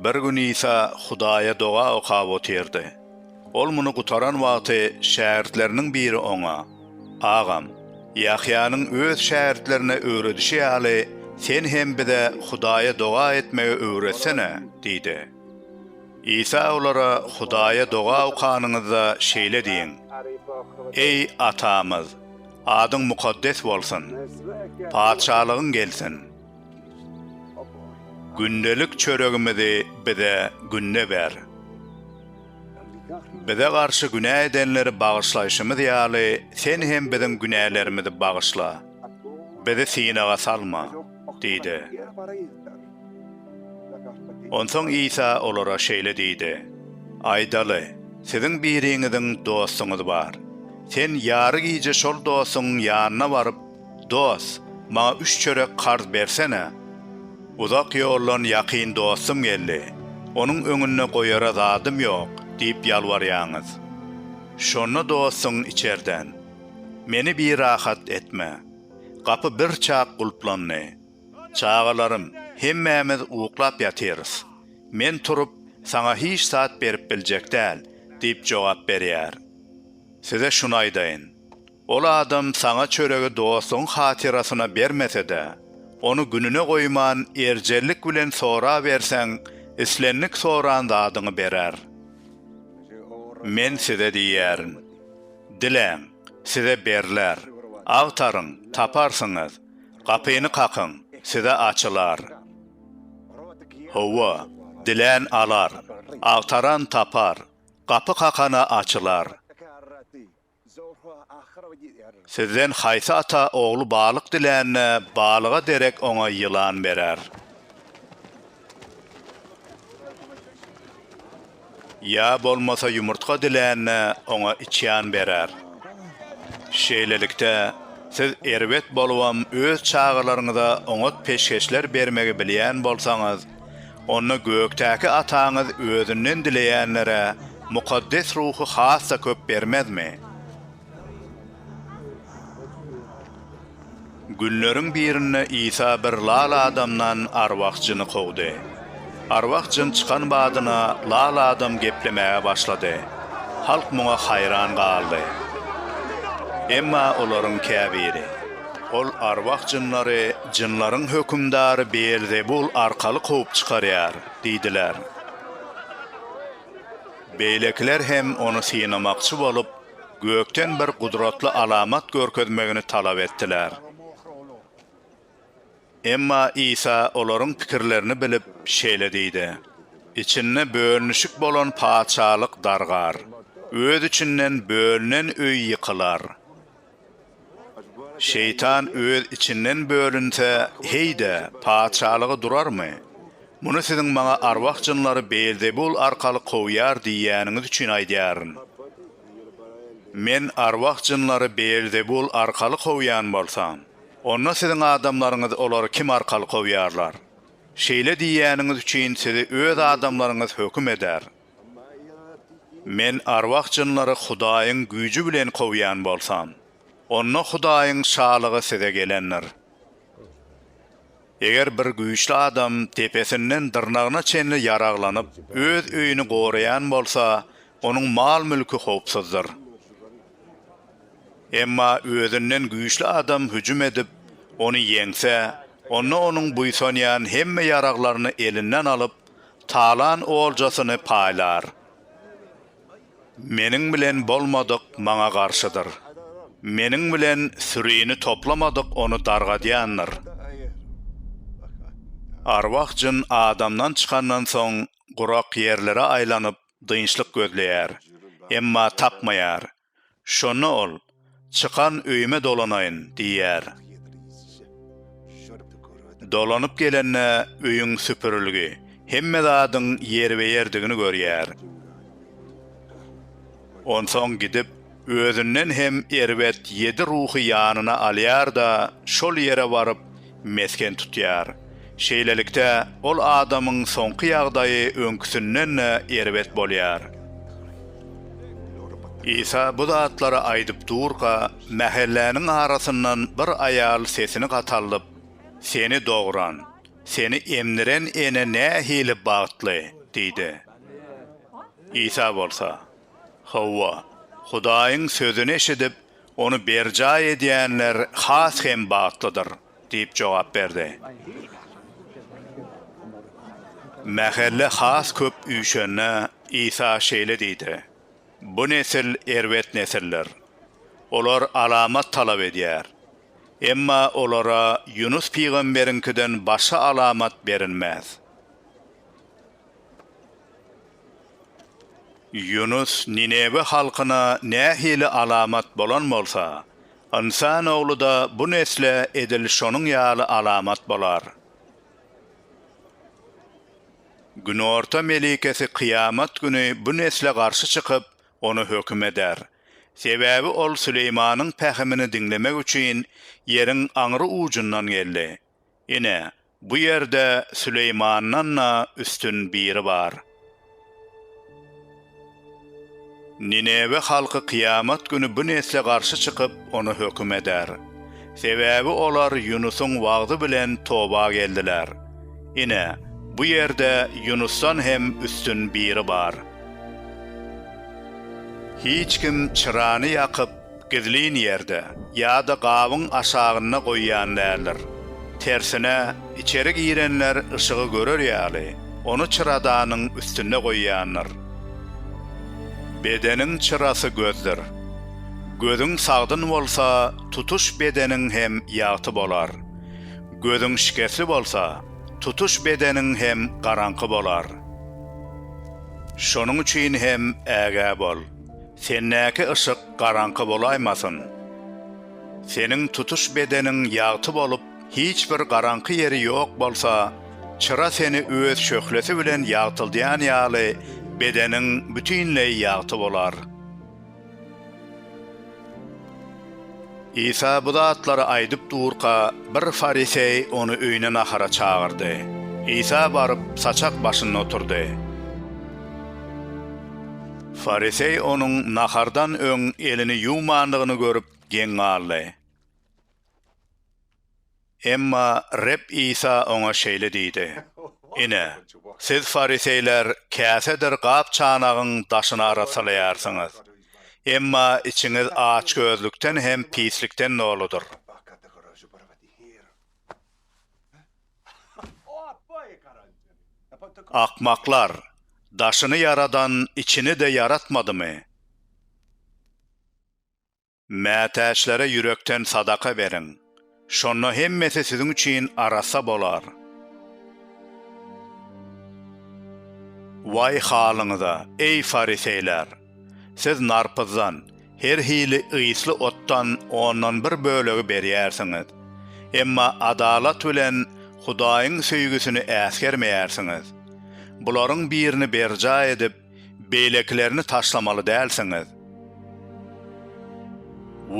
Bir gün Isa Hudaýa doga okap otyrdy. Ol muny gutaran wagty şägirtleriniň biri oňa, Agam, Ýahýanyň öz şägirtlerine öwredişi ýaly, sen hem bize Hudaýa doga etmegi öwretsene! diýdi. Isa olara, Hudaýa doga okanyňyzda şeýle diýiň, Eý, Atamyz! Adyň mukaddes bolsun. Patyşalygyň gelsin. Gündelik çöregimizi bize günde ber. Bize garşy günä edenleri bagyşlaýşymyz ýaly, Sen hem biziň günälerimizi bagyşla. Bizi synaga salma. Diýdi. Onsoň Isa olara şeýle diýdi, Aýdaly, siziň biriňiziň dostuňyz bar. Sen ýary gije şol dostuňyň ýanyna baryp, Dost, maňa üç çörek karz bersene. Uzak ýoldan ýakyn dostum geldi, onuň öňünde goýara zadym ýok diýip ýalbarýaňyz. Şonda dostuň içerden, Meni birahat etme. Gapy birçak gulplandy. Çagalarym, hemmämiz uklap ýatyrys. Men turup, saňa hiç zat berip biljek däl, diýip jogap berýär. Size şuny aýdaýyn, ol adam saňa çöregi dostuň hatyrasyna bermese-de, ony gününe goýman, erjellik bilen soraberseň, islendik soran zadyňy berer. Men size diýýärin, Diläň, size berler, agtaryň, taparsyňyz, Gapyny kakyň, size açylar. Hawa, dilän alar, agtaran tapar, gapy kakana açylar. Sizden haýsy ata ogly balyk dilände, balyga derek oňa ýylan berer? Ýa bolmasa ýumurtga dilände oňa içýan berer. Şeýlelikde, siz erbet bolubam öz çagalaryňyza oňat peşgeşler bermegi bilýän bolsaňyz, onda gökdäki Ataňyz özünden dileýänlere mukaddes ruhy has-da köp bermezmi? Günleriň birinde Isa bir lal adamdan arwah jyny kowdy. Arwah jyn çykan badyna lal adam geplemäge başlady. Halk muňa haýran galdy. Emma olaryň käbiri, Ol arwah jynlary jynlaryň hökümdary Beelzebul arkaly kowup çykarýar diýdiler. Beýlekiler hem ony synamakçy bolup, Gökden bir gudratly alamat görkezmegini talap etdiler. Emma Isa olaryň pikirlerini bilip, şeýle diýdi, Içinde bölünişik bolan Patyşalyk dargar, öz içinden bölünen öý ýykylar. Şeýtan öz içinden bölünse, heý-de, patyşalygy durarmy? Muny siziň maňa arwah-jynlary Beelzebul arkaly kowýar diýýäniňiz üçin aýdýaryn. Men arwah-jynlary Beelzebul arkaly kowýan bolsam, onda siziň adamlaryňyz olary kim arkaly kowýarlar? Şeýle diýýäniňiz üçin sizi öz adamlaryňyz höküm eder. Men arwah-jynlary Hudaýyň güýji bilen kowýan bolsam, onda Hudaýyň Şalygy size gelendir. Eger bir güýçli adam depesinden dyrnagyna çenli ýaraglanyp, öz öýüni goraýan bolsa, onuň mal-mülki howpsuzdyr. Emma özünden güýçli adam hüjüm edip, ony ýeňse, onda onuň buýsanýan hemme ýaraglaryny elinden alyp, Talan oljasyny paýlar. Meniň bilen bolmadyk maňa garşydyr. Meniň bilen sürini toplamadyk ony dargadýandyr. Arwah-jyn adamdan çykandan soň gurak ýerlere aýlanyp dynçlyk gözleýär, emma tapmaýar. Şonda ol, Çykan öýüme dolanaýyn diýýär. Dolanyp gelende öýüň süpürilgi, hemme zadyň ýerbe-ýerdigini görýär. Onsoň gidip, özünden hem erbet ýedi ruhy ýanyna alýar-da, şol ýere baryp, mesgen tutýar. Şeýlelikde, ol adamyň soňky ýagdaýy öňküsinden-de erbet bolýar. Isa bu zatlary aýdyp durka, mähelläniň arasyndan bir aýal sesini gataldyp, Seni dogran, seni emdiren ene nähili bagtly! diýdi. Isa bolsa, Hawa, Hudaýyň sözüni eşidip, Ony berjaý edýänler has hem bagtlydyr, diýip jogap berdi. Mähelle has köp üýşende, Isa şeýle diýdi, Bu nesil erbet nesildir. Olar alamat talap edýär. Emma olara Ýunus pygamberiňkiden başga alamat berilmez. Ýunus Ninewe halkyna nähili alamat bolan bolsa, Ynsan Ogly-da bu nesle edil şonuň ýaly alamat bolar. Günorta melikesi kyýamat güni bu nesle garşy çykyp, ony höküm eder. Sebäbi ol Süleýmanyň pähimini diňlemek üçin ýeriň aňry ujundan geldi. Ine, bu ýerde Süleýmandan-da üstün biri bar. Ninewe halky kyýamat güni bu nesle garşy çykyp, ony höküm eder. Sebäbi olar Ýunusyň wagzy bilen toba geldiler. Ine, bu ýerde Ýunusdan hem üstün biri bar. Hiç kim çyrany ýakyp, Gizlin ýerde ýa-da gabyň aşagynda goýýan däldir. Tersine, içeri girenler yşygy görer ýaly, ony çyradanyň üstünde goýýandyr. Bedeniň çyrasy gözdür. Gözüň sagdyn bolsa, tutuş bedeniň hem ýagty bolar. Gözüň şikesli bolsa, tutuş bedeniň hem garaňky bolar. Şonuň üçin hem ägä bol. Sendäki yşyk garaňky bolaýmasyn. Seniň tutuş bedeniň ýagty bolup, hiç bir garaňky ýeri ýok bolsa, çyra seni öz şöhlesi bilen ýagtyldýan ýaly, bedeniň bütinleý ýagty bolar. Isa bu zatlary aýdyp durka, bir fariseý ony öýüne nahara çagyrdy. Isa baryp, saçak başynda oturdy. Fariseý onuň nahardan öň elini ýuwmandygyny görüp, geň galdy. Emma Reb Isa oňa şeýle diýdi, Ine, siz fariseýler käsedir gap-çanagyň daşyny arassalaýarsyňyz, emma içiňiz açgözlükden hem pislikden doludyr. Akmaklar, daşyny ýaradan içini-de ýaratmadymy? Mätäçlere ýürekden sadaka beriň, şonda hemmesi siziň üçin arassa bolar. Waý halyňyza, eý, fariseýler! Siz narpyzdan, her hili ysly otdan ondan bir bölegi berýärsiňiz, emma adalat bilen Hudaýyň söýgüsini äsgermeýärsiňiz. Bularyň birini berjaý edip, Beýlekilerini taşlamaly dälsiňiz.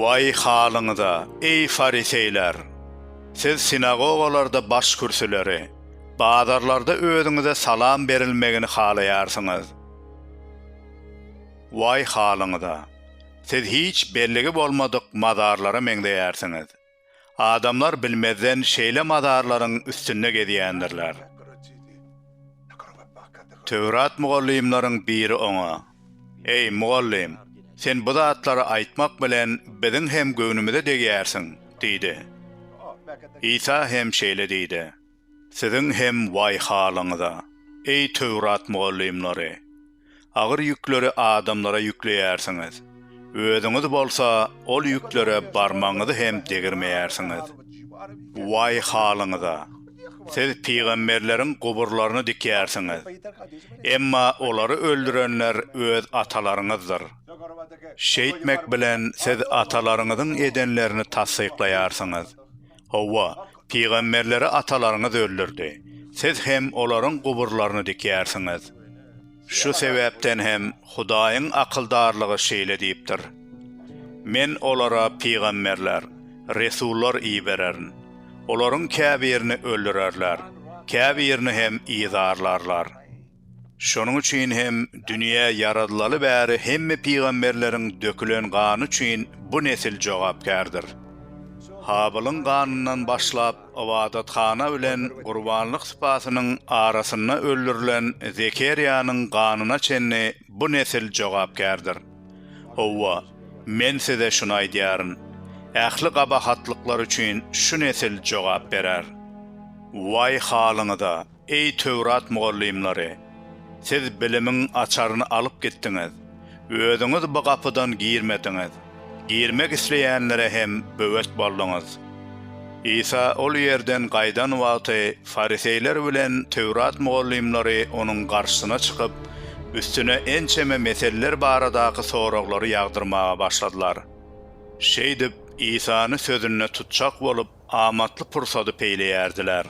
Waý halyňyza, eý, fariseýler! Siz sinagogalarda başkürsüleri, bazarlarda özüňize salam berilmegini halaýarsyňyz. Waý halyňyza! Siz hiç belligi bolmadyk mazarlara meňzeýärsiňiz. Adamlar bilmezden şeýle mazarlaryň üstünde gezýändirler. Töwrat mugallymlaryň biri oňa, Eý, mugallym, sen bu zatlary aýtmak bilen biziň hem göwnümize degýärsiň diýdi. Isa hem şeýle diýdi. Siziň hem waý halyňyza, eý Töwrat mugallymlary! Agyr ýükleri adamlara ýükleýärsiňiz, özüňiz bolsa ol ýüklere barmagyňyzy hem degirmeýärsiňiz. Waý halyňyza! Siz pygamberleriň guburlaryny dikýärsiňiz, emma olary öldürenler öz atalaryňyzdyr. Şeýtmek bilen siz atalaryňyzyň edenlerini tassyklaýarsyňyz. Hawa, pygamberleri atalaryňyz öldürdi. Siz hem olaryň guburlaryny dikýärsiňiz. Şu sebäpden hem Hudaýyň akyldarlygy şeýle diýipdir, Men olara pygamberler, resullar ibererin. Olaryň käbirini öldürerler, käbirini hem yzarlarlar. Şonuň üçin hem dünýä ýaradylaly bäri hemme pygamberleriň dökülen gany üçin bu nesil jogapkärdir. Habylyň ganyndan başlap ybadathana bilen gurbanlyk sypasynyň arasynda öldürilen Zekerýanyň ganyna çenli bu nesil jogapkärdir. Howwa, Men size şuny aýdýaryn, ähli gabahatlyklar üçin şu nesil jogap berer. Waý halyňyza! Eý Töwrat mugallymlary! Siz bilimiň açaryny alyp gitdiňiz, özüňiz bu gapydan girmediňiz, girmek isleýänlere hem böwet bolduňyz. Isa ol ýerden gaýdan wagty fariseýler bilen Töwrat mugallymlary onuň garşysyna çykyp, üstüne ençeme meselleri baradaky soraglary ýagdyrmaga başladylar. Şeýdip, Isany sözünde tutjak bolup, amatly pursady peýleýärdiler.